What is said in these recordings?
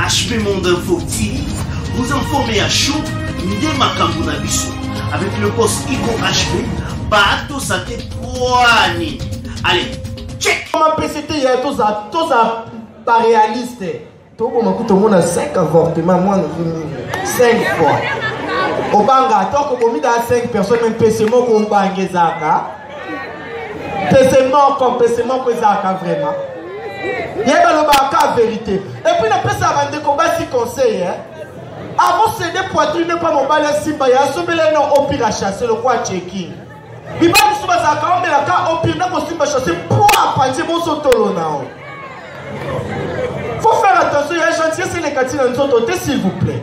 HP Monde Info TV, vous informez à chaud nde makambo na biso avec le boss Igo HP baatosa te pwani allez check mapesete ya toza toza baréaliste toboma kutu omona 5 avortement mwana ozo nini 5 fois obanga atoko bomi da 5 personne mpese moko obanga ezaka pese moko pese moko ezalaka vraiment ye balobaka ka verité epuis napesaka bandeko basi conseil eh? akosede poitrine mpo mobali asimba ye asombela ye na opira chasse lokola checking mibali mosusu bazalaka omelaka opire na kosimba chasse mpo apanzi bonso tolo na yo faut faire attention ya gentillesse elekati na nzoto te s'il vous plaît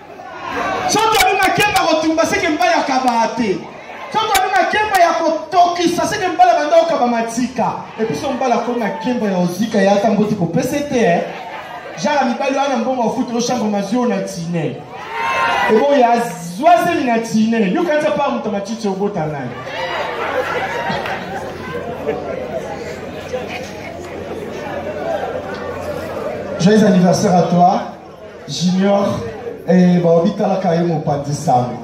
soki abi makemba kotumba seke mbala ya kabaa te soki abi makemba ya kotokisa seke mbala banda okaba matika episo mbala ko makemba ya ozika ya ata mboti kopese te eh. jaka mibali wana mbongo ofuta ochambre mazio na tine ebo ya zwa zemi na tine yokanisa pa moto matiti obota naye Joyeux anniversaire à toi. junior eh, baobitalaka ye mopanzi sango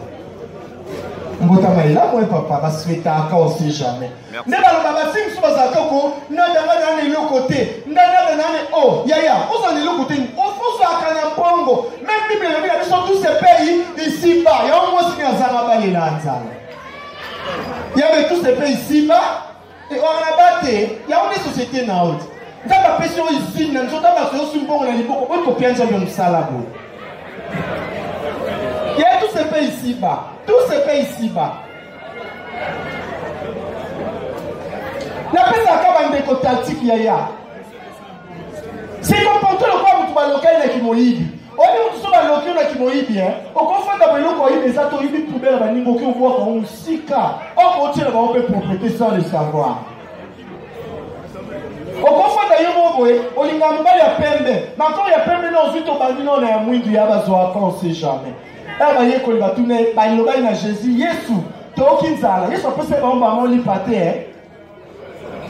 mbotama elamu e papa baswetaka ose jamais nde baloba basi mosusu bazalaka ko nadanga nana eloko te ndanada nane o oh, yaya ozala na eloko te ozwaka na mbongo meme bible elobi na biso tous se paye ici bas yango mwasi ne azanga balela nzala yabe tous se paye ici bas Et on a battu, il y a une société na haute. nzambe apesi yo izine na nzoto baso yosu mbongo na liboko oyo kopia nzambe mosala boye ye tout se paye ici bas tout se paye ici bas napesaka bandeko tactique yaya sekoporte lokola moto balokali na kimoyibi oyebi moto so baloki yo na kimoyibi eh? okofanda boeloko oyibi eza to oyibi poubele baningi oki obwaka yango mosika okotyela bango mpe propriété sans le savoir okofanda yo moko boye olinga mobali ya pembe makolo ya pembe na ozwi tobandi nona ya mwindu ya bazwaka on sait jamais aya bayekoli batuna ye balobaki na jésus yesu toyoki nzala yesu apesa ye bango bango lipa te eh?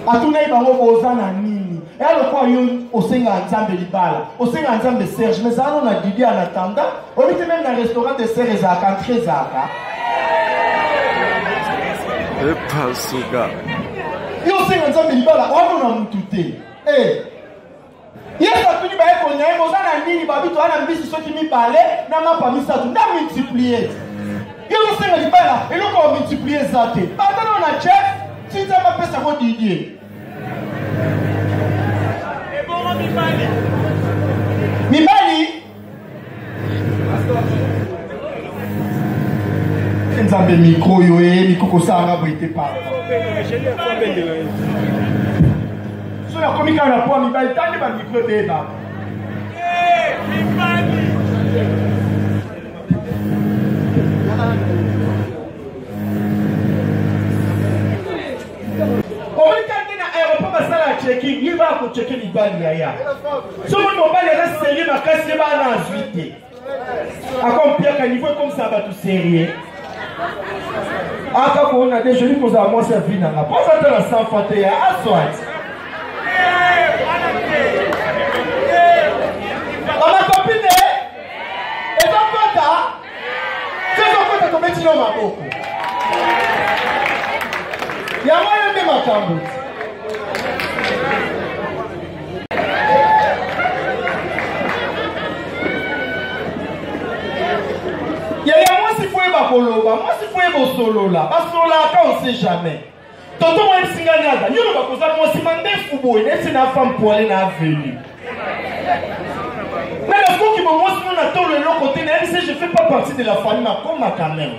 atunaki bango boza na nini eya lokola yo osengaka nzambe libala osengaka nzambe serge mais ezalano na didi en attendant oyebi te meme na restaurant de serre ezalaka entre ezalaka epasuka yo osenga nzambe libala wana na motu te e yesu atuni bayekoli na ye boza na nini babi toza na mbisi soki mibale na mapa misato nda multiplie yo ozosenga libala eloko ya multiplie eza te batana na chef tinza bapesa ko didie mibali nzambe mikro oyo eyebi kokosalanga boye te papa so nakomi kaka na poa mibali tangi bamikro ebeba omoni kaka nde na aéroport basala ya checking ye baa kocheke mibali yaya soki mobali aza serie makasi ye baa na azwi te akompiaka niveau ekomisa bato serie aka koona de joli kozala mwasi ya vi nanga mpo aza ta na sanfa te ya aswati Fais encore ta comète non ma boko. Ya moi nde makambo. Ya ya moi si faut ba koloba, moi si faut bosolola, ba solola quand on sait jamais. Tonton moi singa naza nyono bakoza mwasi mandefu boye neti na femme poile na avenue na nakoki bomwasi no na tolo eloko te nayebi se je fais pas partie de la famille makoma quand même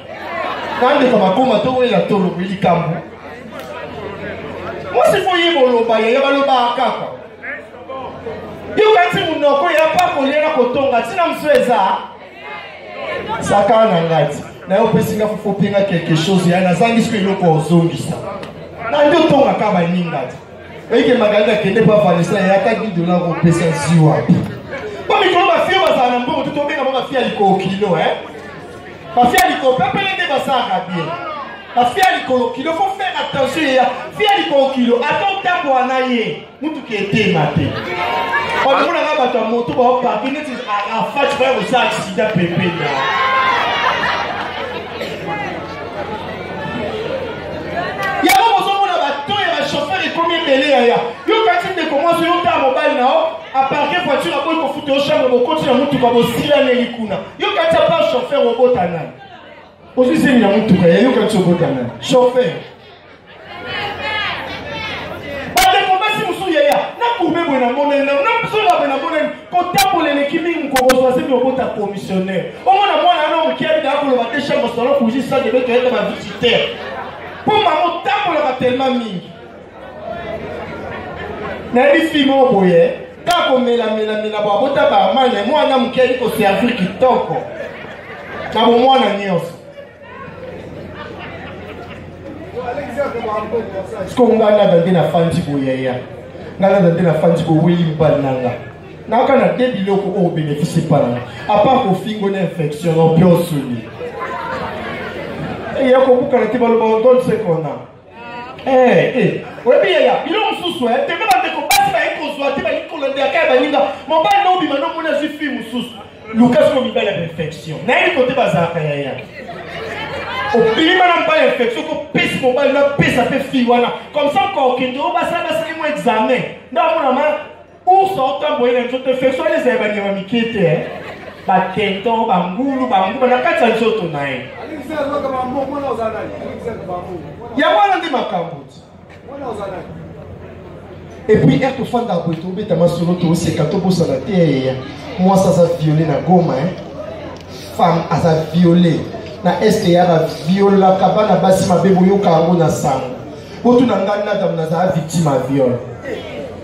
nandeko makoma towelela tolo boye likambo mwasi fo ye boloba yaya balobaka kaka yokanti monoko ya pa kolia na kotonga ntina mosusu eza zaka na ngati na yo opesi nga fufu mpe nga quelque chose ya nazangi soki eloko ozongisa na nde otongaka baninga te oyike magali akende mpo avanisa ya ata di dola kopesa zi wapi mpo mikolo bafie bazala na mbongo te tobenga mpo bafie ya likolo kilo e bafie ya likolo pepele nde basalaka bien bafie ya likolo kilo fo faire attention ya fie ya likolo kilo ata otambola na ye motuka etema te omonaka bato ya moto baopaki neti afati baya kosala aksida pembeni yango bozomona bato ya bashofeur ekomi ebele yaya yo kati ndeko mwasi yo taa mobali na yo aparke voiture akoki kofuta yo chambre bokoti na motuka bosilaneli kuna yo kati apa chauffeur obota nani ozwi zemi na motuka yayo kati obota nani chauffeur bandeko basi mosusu yaya nakurbe boye namonani nano nasola boye namonani kotambola eleki mingi mokokozwa zemi obota commissionnaire omona mwana yana moke abida akoloba te chambre salon kuji sade be toyeta bavisitaire mpo mama otambolaka telema mingi nayebi fi moko boye kaka komelamelamela bo abota baamane mwana moke ayeli koservir kitoko na bomwana nyonso siko nga nada nde nafandi boyaya nga nada nde nafandi boweli mbali na nga naka na te biloko oyo benefisi epa na nga apart kofingo na infection na mpe osuni eya kobukana te baloba odonsekona Eh, eh. oyebi yaya bino mosusu eh, tembe bandeko basi bayi kozwa te balingi kolandeyaka ya baninga mobali na obima na omoni azwi fille mosusu luka soko mibali ya bainfection nayebi kote bazalaka yaya obima na mobali ya infection kopesi mobali napesa mpe fille wana comme ça mokokende oyo basala basali mo examen nde amonama Ours aotamboye na nzoto efeso wana ezali banyama mike te eh. batenton bangulu banguba na kati ya nzoto na ye yango wana nde makambo ti epuis ere tofanda boye tobeta masolo toseka tobosana te eya eh, eh. mwasi aza viole na goma eh. femme aza viole na este ya baviolaka bana basi mabe boyoka yango na sango botuna ngai nadam nazala victime ya viole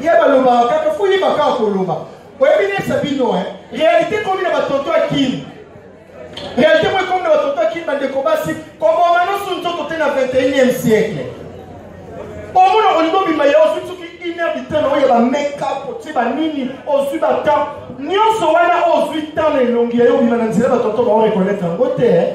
ye balobaka kaka fo yeba kaka koloba oyebi nesa bino e réalité ekomi na batonto ya kini réalité moko ekomi na batonto ya kini bandeko basi koboma nyonso nzoto te na 21e siècle omona olingi obima ye ozwi soki une heure du temps na oyo ya bamekap otie banini ozwi batemp nyonso wana ozwi temps na elongi ya yo obima na nzela batonto baorekonaitre yango te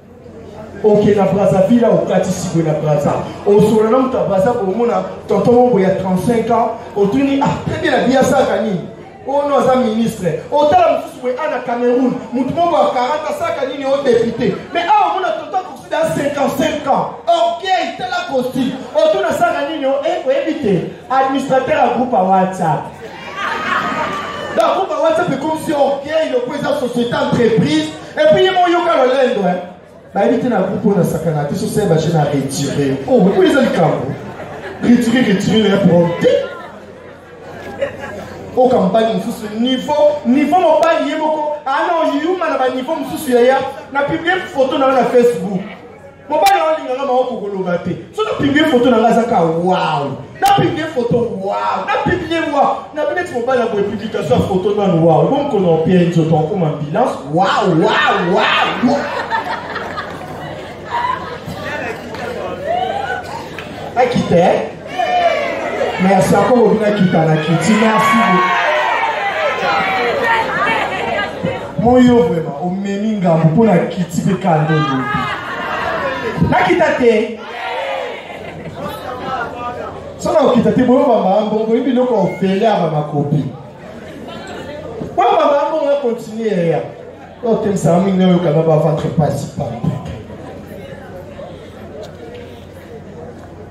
oke na brazzaville awa okati sikwe na brazza osola na moto ya brazza komona tonton moko ya 35 ans otuni ah très bien na biya asaka nini oyo no aza ministre otala mosusu boye a na cameroun moto moko ya 40 asaka nini o depute mais awa omona tonton akokosida ya 55 ans orgueil tala costume otuna asaka nini o e oyebi te administrateur ya groupe ya whatsapp groupe ya whatsapp ekomisi orgueil lokola eza société entreprise Et puis, il y a mon yoka le lendo, hein. Bah, il était dans le groupe, on a sakana, tu sais, bah, j'ai retiré. Oh, mais oui, ils ont le camp. Retirer, retirer, les apporter. oyo kampani mosusu niveau niveau mobali ye moko ana oyuma na baniveau mosusu yaya na publie foto na yo na facebook mobali yango alingaka mama kokoloba te so napiblie foto na ngai azaka wow napiblie foto wow napiblie wow nabi neti mobali ya boye publikation ya foto nanu wow bo mokolo opia nzoto akoma ambulance wow wow wow akita merci akoko bina kita na kiti merci moyo vraimen omemi ngambo mpo na kiti mpe kando lobi nakita te soki nakokita te boyo bambambongo boyebi biloko ofele ya bamakopi oyo bambambongo ya kontinue yaya oyo temisaka mingi na oyokana baventre principal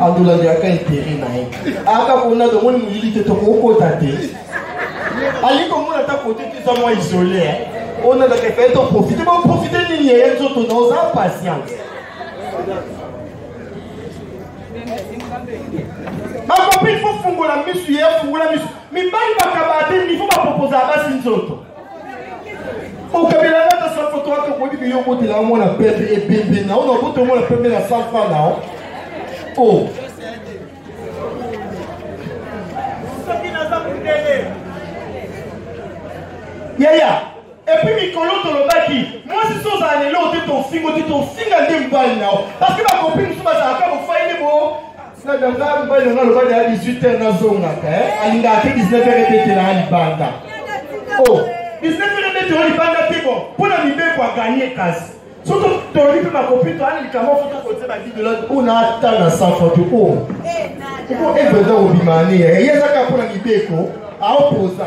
andola liaka etere na ye aka kona tomoni molili te tokokota te alingi komona ata kote te eza mwa isole eh. ona ndaka epai toprofite boprofite nini yeye nzoto na oza patience bakopi ifofungola misu ye afungola misu mibali bakabaa te nifo bapropozala basi nzoto okabela nga na sanfo to ata okoki biyo obotela yango na pembe ebembe na ona obotela yango na pembe na sanfa na o oh. yaya epuis mikolo tolobaki mwasi so ozala lelo te tofingo te tofinga nde mobali na yo parceke bakopi mosusu bazalaka bofai nde bo na ganga mobali na nga alobaki ya 18 heure nazongaka eh? alingaka te 19 heure ebetela ya libanda o 19 heure ebetela ya libanda te bo mpo na mibeko aganye kasi soki toli mpe bakopi toyana likambo fo tokotie babidola mpo na ata na safa te o mpo evreda kobima ane ye ezaka mpo na mibeko aopoza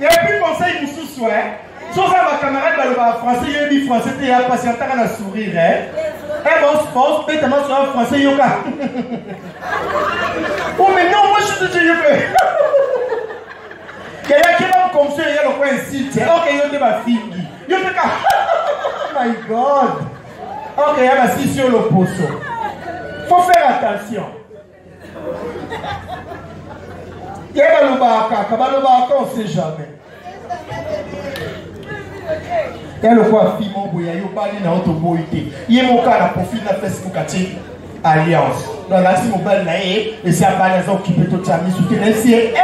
Et puis conseil mususu hein. Soki ba camarade balobaka français yebi français te ya pasi ataka na sourire hein. Eh bon, bon, beta ma soeur français yoka. Oh mais non, moi je suis de yoka. Kaya keba mkomso ya lokwa insite. Okay, yo te ba fingi. Yo te ka. Oh my god. Okay, ya ba sisi yo loposo. Faut faire attention. ye balobaka kaka balobaka on sait jamais ya lokola fi moko boye ayobali na yo toboyi te ye moko na profil na facebook atie alliance donc alakisi mobali na ye esi abali aza okipe totya misu te na esi ye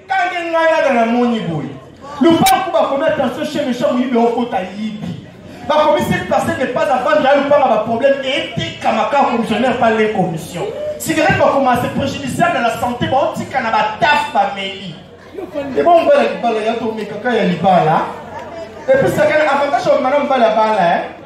Kange ngai ada na moni boye. Lupangu bakomi attention chez méchant moyibi okota yibi. Bakomi cette personne n'est pas à vendre ya lupanga ba problème etekama kaka commissionnaire pas les commissions. Cigarette bakoma se préjudiciable à la santé baotika na bataf bameli. Eba mobala libala ya tomekaka ya libala. Episaka na avantage ya mwana mobala bala eh.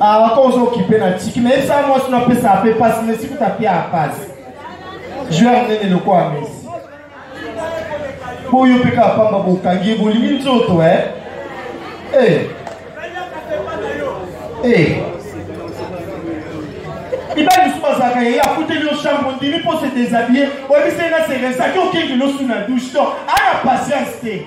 Ah, wako ozo okipe na tiki mais esa mwasi na pesa ape pasi mais siku tapia apasi joueur nene lokola mesi boyo mpe kaka pamba bokangi bolingi nzoto e eh. e eh. mibali mosusu bazalaka yeye akuteli yo chambre ondimi mpo se desabille oyebiseli na seresa ki okengeli osuna douche to ana patience te